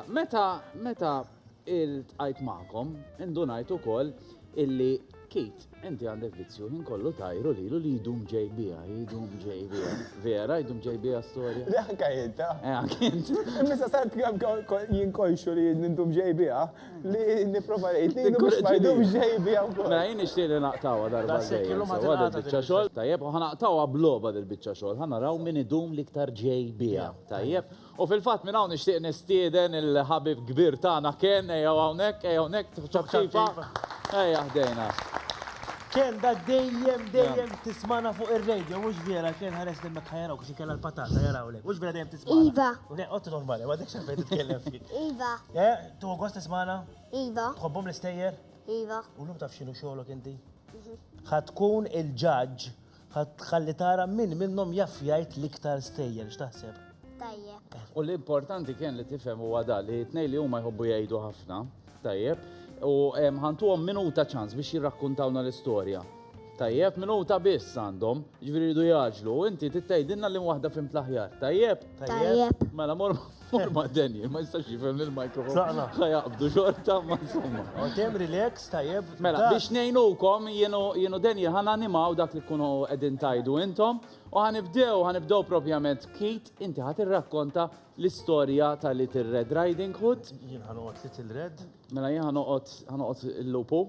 Meta meta iltqajt magħkom, indunajt ukoll illi Kit, inti għandek vizzju ħin kollu tajru lilu li jdum ġej biha, jdum ġej biha. Vera, jdum ġej biha storja. Le anka jenta. Eh, anka jenta. Misa sart jinkolxu li jdum ġej biha, li niprofa rejt li jdum ġej biha. Ma jien nixtieq li naqtawa darba. Għada biċċa xogħol, tajjeb, u ħanaqtawa bloba dil-biċċa xogħol, ħanaraw min idum liktar ġej biha, tajjeb. U fil-fatt minn hawn nixtieq nistieden il-ħabib kbir tagħna Ken ejjew hawnhekk, ejja hawnhekk ċapċipa. Ejja ħdejna. Ken da dejjem dejjem tismana fuq ir-radio, mhux vera Ken ħares li mek ħajarawk xi kellha l-patata jarawlek, mhux vera dejjem tismana. Iva. Qod normali, ma dik xejn titkellem fik. Iva. Eh, tu gost tismana? Iva. Tħobbhom l-istejjer? Iva. U llum taf x'inhu xogħolok inti? Ħa tkun il-ġaġġ Ħa tħalli tara min minnhom jaf jgħid l-iktar stejjer, x'taħseb? Tajjeb. U l-importanti kien li tifhem huwa da li tnej li huma jħobbu jgħidu ħafna, tajjeb, u ħantuhom minuta ċans biex jirrakkuntawna l-istorja. Tajjeb, minuta biss għandhom, ġviri jidu jaġlu, inti tittejdinna li waħda fim tlaħjar, tajjeb? Tajjeb. Mela, mor Forma Daniel, ma jistax jifhem li l-mikrofon. Saqna. Ħajaqbdu xorta, ma insomma. Għotem relax, tajjeb. Mela, biex nejnukom, jenu Daniel, ħan animaw dak li kunu edin tajdu intom, u ħanibdew, ħanibdew propjament kit, inti ħat irrakkonta l-istoria ta' Little Red Riding Hood. Jien ħanoqot Little Red. Mela, jien ħanoqot il-lupu.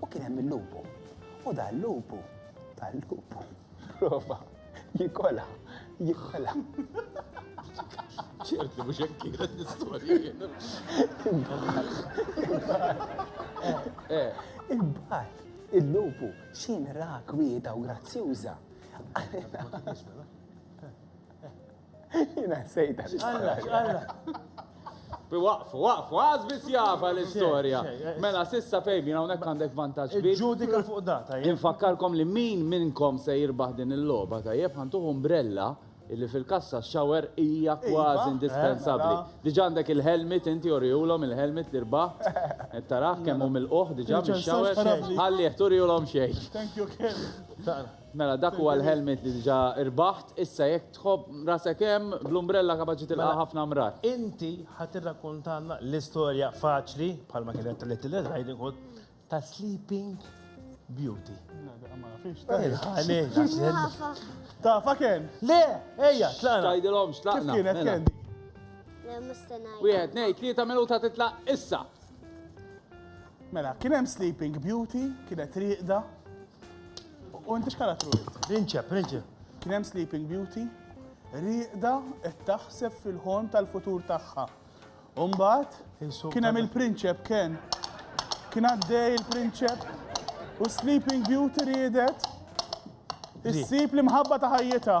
U kien hemm il-lupu. U dal-lupu, dal-lupu, prova, jikola, jikola. ċert li mhux hekk kienet l-istorja. Imbagħad il-lupu x'inra kwieta u grazzjuża. Jina sejda. Alla, alla. Waqfu, waqfu, għaz bis java l-istoria. Mela, sissa fejbi, na unek għandek vantaġġ kbir. Ġudika fuq data, jien. Infakkarkom li min minnkom se jirbaħ din il-loba, tajjeb, ħantuħ umbrella illi fil-kassa xower hija kważi indispensabbli. Diġà għandek il-helmet inti urihulhom il-helmet li rbaħt. Qed tarah kemm hu milquh diġà mix-xower. Ħallih turihulhom xejn. Thank you, Ken. Mela dak huwa l-helmet li diġà rbaħt, issa jekk tħobb rasek hemm, bl-umbrella kapaċi tilqa' mela, ħafna mrar. Inti ħa tirrakkontalna l-istorja faċli, bħalma kienet ta' Little Riding Hood, ta' Sleeping Beauty. Ta' faken! Le, ejja, tlaqna. Tajdilhom x'tlaqna. Kif kienet mela. kendi? Wieħed, nej, tlieta minuta titlaq issa. Mela, kien hemm Sleeping Beauty, kienet riqda, U inti x'karattru int? Rinċe, prinċe. Kien hemm Sleeping Beauty, rieqda qed taħseb fil-ħon tal-futur tagħha. Umbat, kien hemm il-prinċep kien. Kien għaddej il-prinċep u Sleeping Beauty riedet issib l-imħabba ta' ħajjita.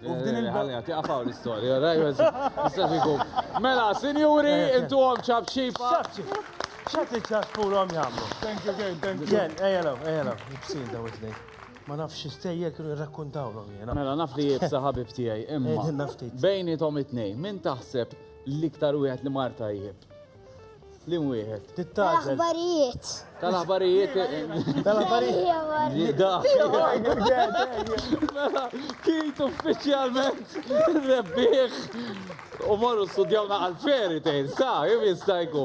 U f'din il- Ħalli għati għafaw l-istoria, rajwez. Mela, sinjuri, intu għom ċabċipa. ċabċip. ċat li ċaċpuru għom jgħamlu. Thank you again, thank you. Jen, ejjelaw, ejjelaw, jibsin daw it-nej. Ma nafx istejjer kienu jirrakkuntaw l jena. Mela, naf li jibsa ħabib tijaj, imma. Bejni tom it-nej, min taħseb l-iktar u li marta jib? Lim wieħed. Tittaġel. Aħbarijiet. Tal-aħbarijiet. Tal-aħbarijiet. Mela, kit uffiċjalment rebbieħ u morru studjawna għal-feri tejn, sa, jim jistajku.